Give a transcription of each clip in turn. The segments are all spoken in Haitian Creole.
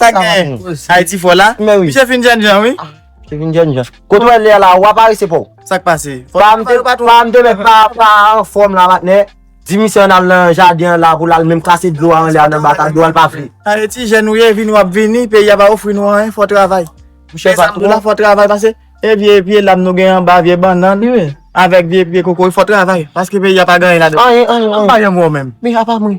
Sa gen, Haiti fò la? Men wi. Misye fin jèn jan wi. Ah, misye fin jèn jan. Kote wè lè la, ou pa parese pou? Sa k pase? Pa m te, pa m te met pa, pa an fòm la matnè. Di misye an al nan jaden an la pou l al menm krase dlo a anlè a nan bata, dlo a l pa vle. Haiti jèn ou ye, vini w ap vini, peyi a pa ofri nou anyen, fò travay. Misye pa twò. Fò travay pase, e vye pye lam nou gen anba, vye bannann. Wi. Avèk vye pye kokoye, fò travay. Paske peyi a pa gen anyen ladan. Anyen, anyen, anyen. Anba yon mò menm. Men apa mwen.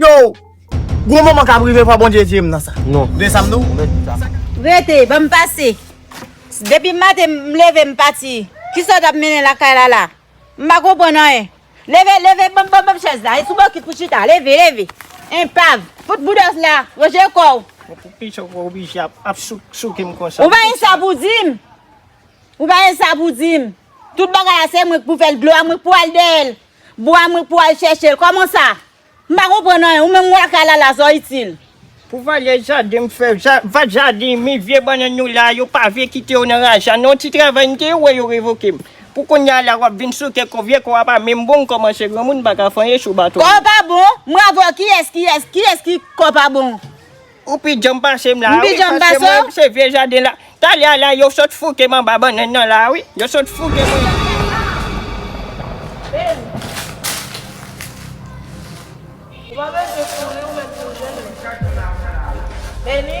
Yow! Gwo moman kap rive fò Bondye edye'm nan sa. Non. Tande sa'm di'w? Rete, banm pase. Depi maten m leve m pati. Kisa w tap mennen lakay la la? M pa konprann anyen. Leve, leve, banm, banm, banm chèz la. E sou bòkit pou chita. Leve, leve. Enpav. Fout bouda w la. Ranje kò w. Mwen pou ki sa w oblije ap souke m konsa? Ou pa gen sa pou di m? Ou pa gen sa pou di m? Tout bagay la se mwen k pou fè l. Glwa mwen k pou al dèyè l. Bwa mwen pou al chèchel kòman sa m pa konprann anyen ou menm wè kalala sa w itil. Pou valè jaden m fè vat jaden men vye bannann yo la yo pa vle kite yo nan raja non ti travay m te wè yo revoke m pou kounya la wap vin sote kò vye kò a pa menm bon m kòmanse granmoun m pa ka fanyen sou baton. Kò pa bon? M ravè w kiyès kiyès kiyès ki kò pa bon? Ou pi djanm pasem la wi paske mwen se vye jaden la talè a la yo sot foukem anba bannann nan la wi yo sot fouke mwen. Beni.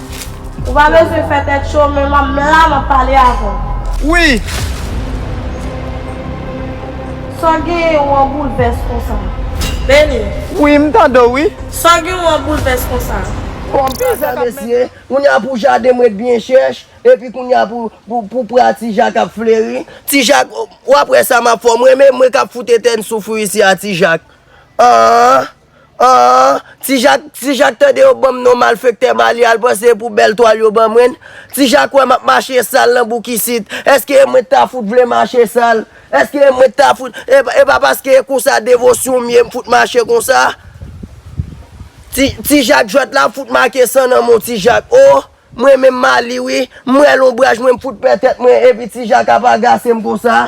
Ou pa bezwen fè tèt cho men m la m ap pale avè w. Wi! Sa w genyen ou an boulvès konsa? Beni. Wi m tande w wi. Sa w gen ou an boulvès konsa? Bon bagay mesye, kounya pou jaden mwen t byen chèch, epi kounya pou pra ti jak ap fleri, ti jak wap wè sa map fè w m renmen mwen kap fout etèn soufri isi a ti jak, aah. Aah ti jak ti jak tande yo banm non malfektè mali al pran se pou bèl twal yo ban mwen ti jak wè map mache sal nan bouk isit eske e mwen ta fout vle mache sal eske e mwen ta fout e pa paske e konsa devosyon m ye m fout mache konsa ti ti jak jwèt la fout make san nan men w ti jak oo m renmen mali wi m wè lonbraj mwen m fout pè tèt mwen epi ti jak ap agase m konsa.